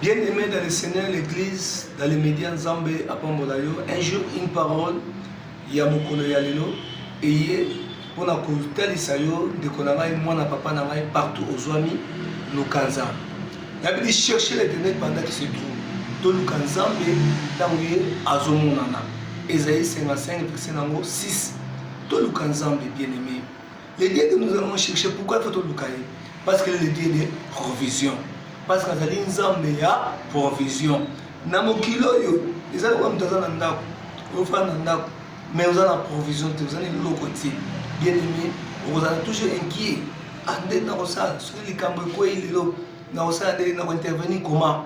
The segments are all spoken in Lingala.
Bien aimé dans le Seigneur, l'Église, dans les médias, Nzambe apambola yo. Un jour, une parole ya mokolo ya lelo eye mpo na kotalisa yo ndeko na ngai mwana papa na ngai partout ozwami luka nzambe yabidi cherche l'éternel pendant qui se trouve toluka nzambe ntango ye azomonana ezali 55 verse na yango 6 toluka nzambe bien aimé Le Dieu que nous allons chercher, pourquoi il faut toluka ye Parce que le Dieu de provision. Parce que azali nzambe ya provision. Na mokili oyo eza lokola moto aza na ndako, ofanda na ndako, mais oza na provision te, oza na eloko te. Bien aimé, okozala toujours inquiet. Ah, nde nakosala soki likambo ekwei lelo, nakosala nde nakointervenir comment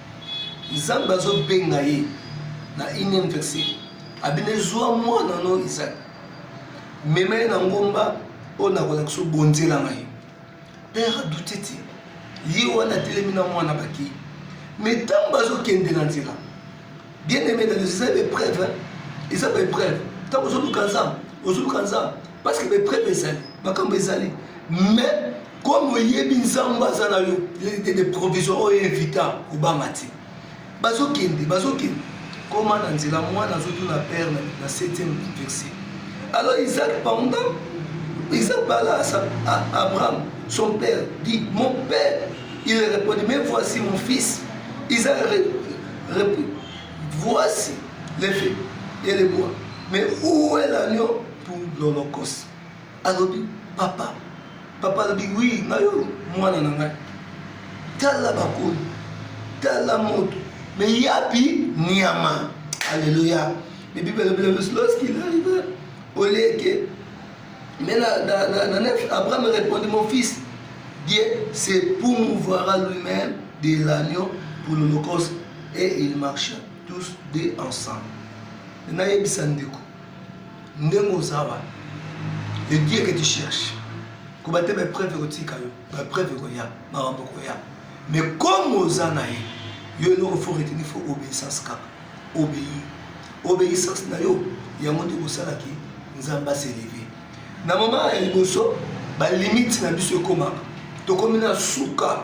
Nzambe azobenga ye na ine verse abine zwa mwana no Isaac mema ye na ngomba oyo nakolakisa yo bonzela ngai père adute te ye wana atelemi na mwana bakei mais ntango bazokende na nzela bien aimé na eza baepreuve eza baepreuve ntango ozoluka nzambe ozoluka nzambe parce que baepreuve ezali makambo ezali mais comme oyebi nzambe aza na yo de provision oyo evita kobanga te bazokende bazokende koma na nzela mwana azotuna père na 7e verset alors isaac panda isaac bala abraham son père dit mon père il répondit mais voici mon fils isaac répondit voici les faits et les bois mais où est l'agneau pour l'holocauste alobi papa papa alobi wi ngai oyo mwana na ngai tala bakoli tala moto me yapi nyama aleluya me bible alobi na biso lorsqu'il arrive au lieu que mais na, na, na, na nef abraham répondit mon fils dieu se promouvoira lui-même de l'agneau pour l'holocauste et il marcha tous deux ensemble nayebisa ndeko ndenge oza wana le dieu que tu cherche koba te baepreuve ekotika yo baepreuve ekoya makambo ekoya mais comme oza na ye yo eloko fo reteni fo obéissance kaka obéi obéissance na yo yango nde kosalaki nzambe aseleve na mama ya liboso balimite na biso ekomaka tokomi na suka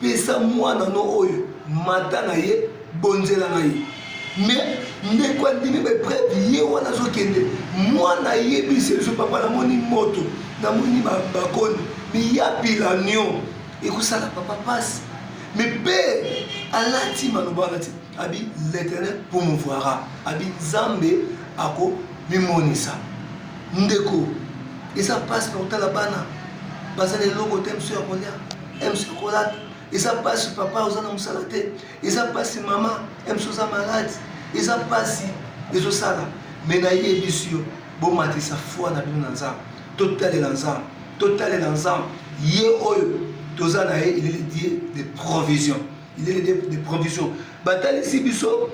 Pesa mwana no oyo mata na ye, bonzela na ye. Mais ndeko andimi ba epreuve, ye wana azokende, mwana ayebi sezo, papa namoni moto, namoni bakoni, mais ya bilanion ekosala papa pasi. Mais père alati maloba alati, abi l'Éternel promouvoira, abi Nzambe ako mimonisa. Ndeko eza pasi na kotala bana bazali eloko te, mso ya kolia MC Kola eza pasi papa oza na mosala te eza pasi mama MC oza malade eza pasi ezosala me nayebisi yo bomatisa foi na bino na nzambe totalela nzambe totalela nzambe ye oyo toza na ye il est le dieu de provision il est le dieu de provision batalisi biso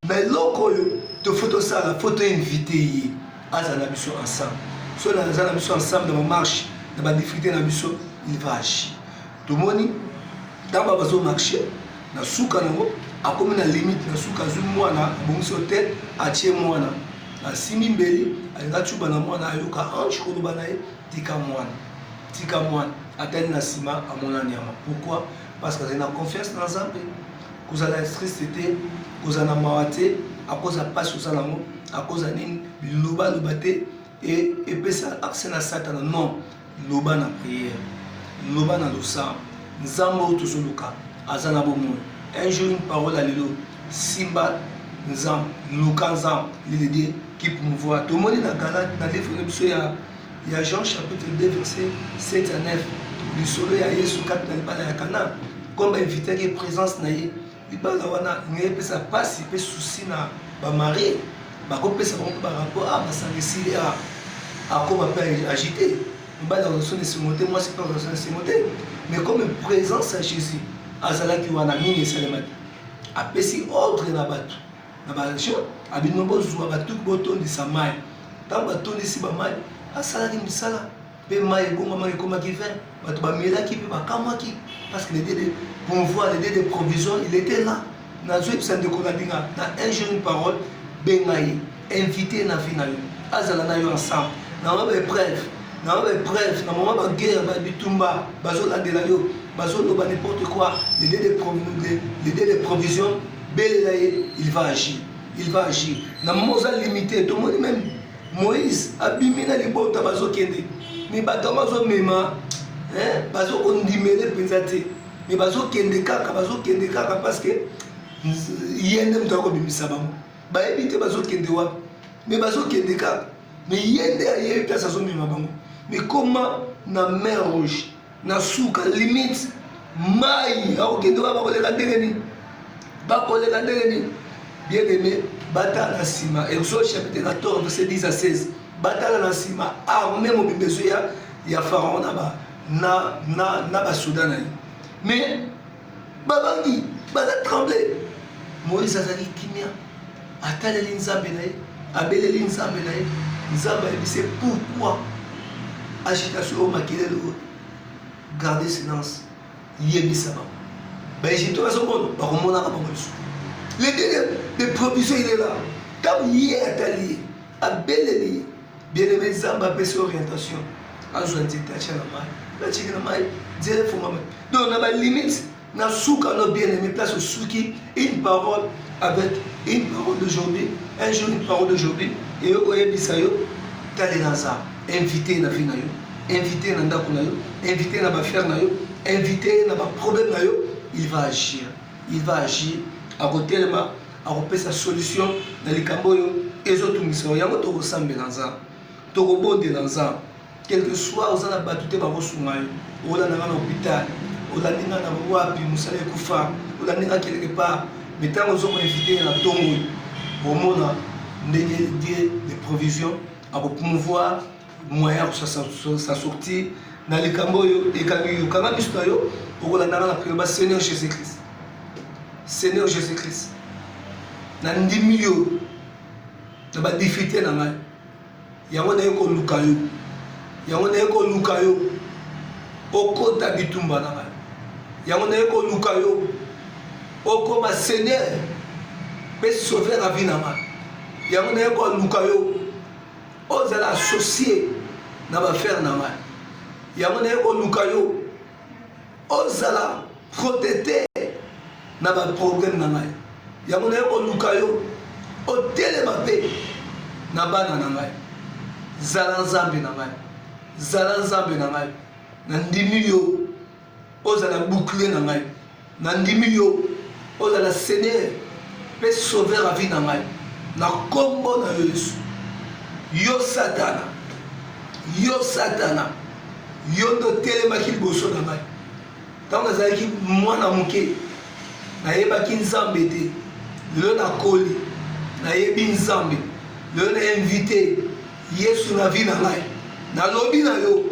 na eloko oyo tofo tosala fo toinvite ye aza na biso ensemble so na aza na biso ensemble na bamarche na badifrite na biso il va agir tomoni ntango ba bazo marche na suka nango akomi na limite na suka azwi mwana abongisi hotel atie mwana asimbi mbeli alinga cuba na mwana ayoka ange koloba na ye tika mwana tika mwana atali na nsima amona nyama pourquoi parce que azali na confiance na nzambe kozala instriste te kozala na mawa te akoza mpasi oza nango akoza nini bilobaloba te e, epesa akse na satana non loba na priere loba na losambo nzambe oyo tozoluka aza na bomoi un jour une parole ya lelo simba nzambe luka nzambe lilede kipmouvoir tomoni na galate na livre na biso ya ya Jean chapitre 2 verset 7 à 9 lisolo ya Yesu kati na libala ya Kana comme ba invitaki ye présence na ye libala wana lingi epesa mpasi mpe susi na bamarie bakopesa bango mpe barapport a ah, basangisi ye ah, akoma mpe agite mobali akozwa na esengo te mwasi mpe akozwa na esengo te mais comme présence ya jésus azalaki wana nini esalemaki apesi ordre na bato na ba action abino bozwa batuki botondisa mai ntango batondisi bamai asalaki misala mpe mai ebongama ekomaki vin bato bamelaki mpe bakamwaki parce que l'idée de pouvoir l'idée de provision il était là nazoyebisa ndeko na binga na un jour une parole benga ye invité na vie na yo azala na yo ensemble na mwa baepreuve na mwa baepreuve na mwa baguerre babitumba bazolandela yo bazoloba n'importe quoi l'idée de provision belela ye il va agir il va agir na mama oza limite tomoni meme moïse abimi na libota bazokende me bato yango azomema bazokondimele mpenza te me bazokende kaka bazokende kaka parce que ye nde moto akobimisa bango bayebi te bazokende wapi me bazokende kaka me ye nde ayebi place azomema bango me koma na mer rouge na suka limite mai akokende wana bakoleka ndenge nini bakoleka ndenge nini bien aimé batala na nsima exode chapitre 14 verset 10 à 16 batala na nsima arme mobimba ezo ya ya pharaon na ba na na na basoda na ye mais babangi baza tremble moïse azali kimia ataleli nzambe na ye abeleli nzambe na ye nzambe ayebise pourquoi agitation oyo makelele oyo garde silence yebisa bango baegyptien bazomona bakomonaka bango lisusu le deuxième de provision il est là ntango ye atali ye abeleli ye bien aimé nzambe apesi orientation azwa nzete atya na mai natiki na mai nzela efungama donc na balimite na suka no bien aimé place osuki une parole avec une parole d'aujourd'hui un jour une parole d'aujourd'hui eye oyebisa yo talela za invité na vie na yo invité na ndako na yo invité na bafere na yo invité na baproblème na yo il va agir il va agir akotelema akopesa solution na likambo oyo ezotungisa yo yango tokosambela nzambe tokobondela nzambe quelque soit oza na bato te bakosunga yo olanda nga na hôpital olandi nga na wapi mosala ekufa olandi nga quelque part me ntango ozo koinvite ye na ntongo oyo omona ndenge die de provision akopromouvoir moyen ya kosa sortir na likambo oyo ekangi yo kanga miso na yo okolandaka na priere ba seigneur jésus christ seigneur jésus christ na ndimi yo na badifite na ngai yango naye koluka yo yango naye koluka yo okota bitumba na ngai yango naye koluka yo okoma seigneur mpe sauver avi na ngai yango naye koluka yo O zala associe na ba affaire na ngai yango naye koluka yo o zala protete na ba problème na ngai yango naye koluka yo o telema pe na bana na ngai zala nzambe na ngai zala nzambe na ngai na ndimi yo ozala bouclier na ngai nandimi yo ozala seigneur mpe sauveur ya vie na ngai na nkombo na yo yesu yo satana yo satana yo nde otelemaki liboso na ngai ntango nazalaki mwana moke nayebaki nzambe te lelo nakoli nayebi nzambe lelo na invite yesu na vi na ngai nalobi na yo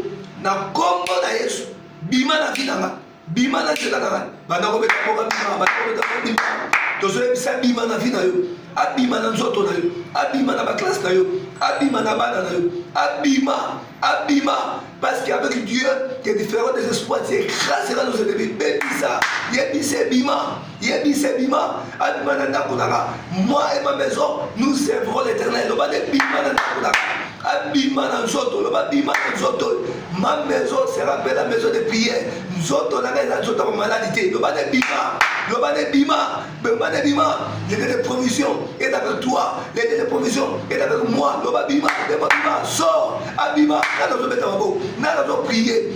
na nkombo na yesu bima na vie na nga bima na nzela na ngai banda kobeta mboka bima banda kobeta mboka bima tozoyebisa abima na vie na yo abima na nzoto na yo abima na baklasse na yo abima na bana na yo abima abima parce qu'avec dieu que différent des espoirs c'est grâce à nos ennemis bebisa yebisa ebima yebisa ebima abima na ndako nanga moi et ma maison nous servirons l'éternel loba nde bima na ndako nanga abima na nzoto loba bima na nzoto ma maison sera mpe la maison de prière nzoto nanga eza nzoto ya bamaladi te loba nde bima loba nde bima loba nde bima lede de provision est avec toi lede de provision est avec moi loba bima dema bima sort abima nana ozobeta maboko nana ozopriye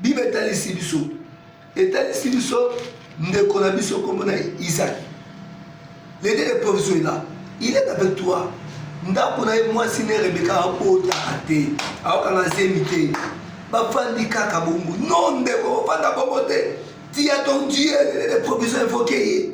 bible etalisi biso etalisi biso ndeko na biso kombo na isaki lede le provision ela il est avec toi ndako na ye mwasi ne rebeka abotaka te aokanga zemi te bafandi kaka bongo no ndeko ofanda bongo te tia ton dieu lede le provision evoke ye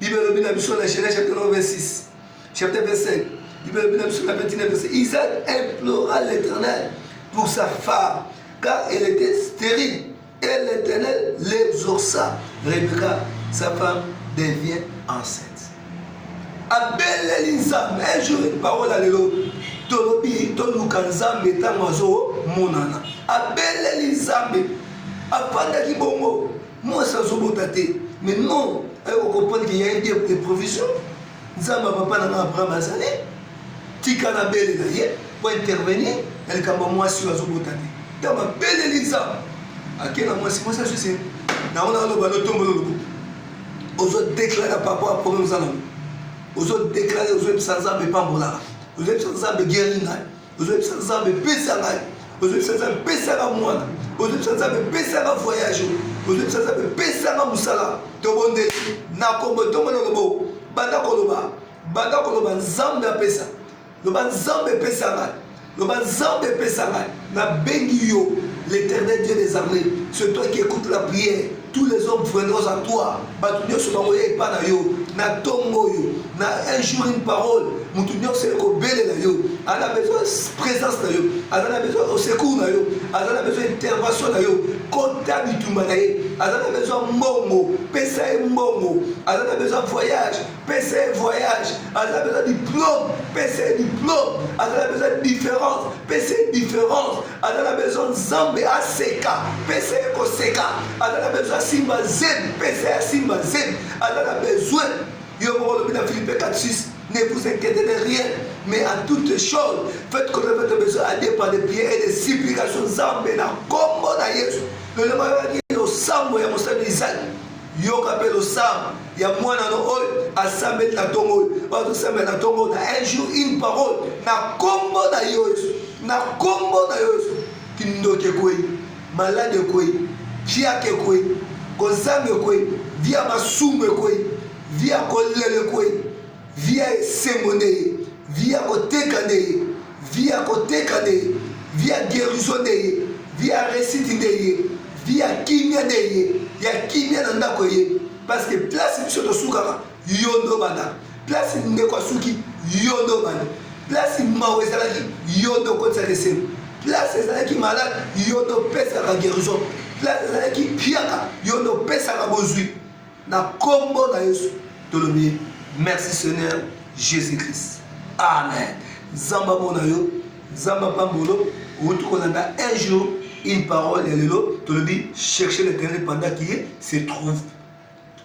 Bible elobi na biso na Genèse chapitre 26, chapitre 25. Bible elobi na biso na 29 verset. Isaac implora l'Éternel pour sa femme, car elle était stérile. Et l'Éternel l'exauça. Rebecca, sa femme, devient enceinte. abeleli nzambe un jour une parole ya lelo tolobi toluka nzambe ntango azomonana abeleli nzambe afandaki bongo Mwasi azobota te mais non ayo kocomprendre ke ya ye dieu de provision nzambe ya papa na nga abraham azali tika na bele na ye po intervenir na likambo ya mwasi oyo azobota te ntango abeleli nzambe ake na mwasi mwasi azwi se nango na aloba lotombolo lobo ozo deklare par rapport ya problème oza nango ozo deklare ozoyebisa nzambe epambolaka ozoyebisa nzambe geri ngai ozobisa nzambe pesa ngai ozobisa nzambe pesa nga mwana ozobisa nzambe pesa nga voyage ozobisa nzambe pesa nga mosala tobondeli na kombo ntongo na lobo banda koloba banda koloba nzambe apesa loba nzambe pesa ngai loba nzambe epesa ngai nabengi yo l'éternel dieu des armées c'est toi qui écoute la prière tous les hommes viendront à toi bato nyonso bakoya epa na yo na ntongo oyo na un jour une parole moto nyonso ekobelela yo aza na besoin présence na yo aza na besoin osecour na yo aza na besoin intervention na yo kota bitumba na ye aza na besoin mbongo pesa ye mbongo aza na besoin voyage pesa ye voyage aza na besoin diplôme pesa ye diplôme aza na besoin différence pesa ye différence aza na besoin nzambe aseka pesa ye koseka aza na besoin asimba zemi pesa ye asimba zemi aza na besoin yo moko olobi na philippe 46 ne vous inquiétez de rien mais à toutes choses faites connaître votre besoin à Dieu par des prières et des supplications nzambe na nkombo na yesu lolema yaki losambo ya mosali isaki yoka mpe losambo ya mwana no oyo asambeli na ntongo oyo bazosambela na ntongo na un jour une parole na nkombo na yo yesu na nkombo na yo yesu kindoki ekwei malade ekwei fiaka ekwei kozanga ekwei via masumu ekwei via kolela ekwei Vie ya esengo nde ye, vie ya koteka nde ye, vie ya koteka nde ye, vie ya guerison nde ye, vie ya resite nde ye, vie ya kimia nde ye, ya kimia na ndako eye. Parce que place biso tosukaka, yo nde obanda. Place ndeko asuki, yo nde obanda. Place mawa ezalaki, yo nde okotisaka esengo. Place ezalaki malade, yo nde opesaka guerison. Place ezalaki mpiaka, yo nde opesaka bozwi. Na kombo na Yesu tolobi merci Seigneur Jesus Christ. Amen. Nzambe amona yo, Nzambe apambolo, outi kolanda un jour une parole ya lelo tolobi chercher l'éternel pendant qui se trouve.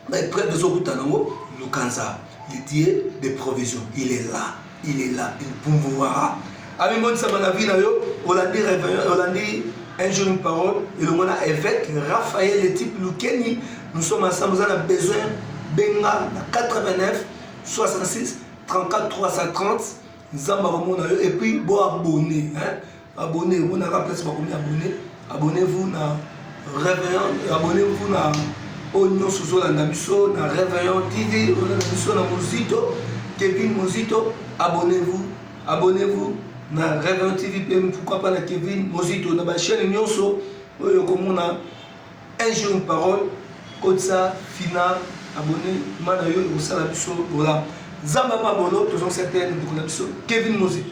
Mais preuve ezokutana yango luka Nzambe. Il dit des provisions, il est là. il est là il pouvoira amimonisama na vie na yo olandi olandi un jour une parole elongo na évêque raphaël le type lukeni nous sommes ensemble oza na besoin benga na 89 66 34 330 nzambe akomona yo epuis boabone abonne omona ka place bakomi abonne abonne vous na réveillant abonne vous na oyo nyonso ozolanda biso na réveillant tv ozolanda biso na mozito kevin mozito abonne vous abonne vous na réveillant tv mpe pourquoi pas na kevin mozito na bachaîne nyonso oyo okomona un jour une parole kotisa fina abonne ma na yo ekosala biso bolamu zamba mabolo tozongisa te ndeko na biso kevin mozito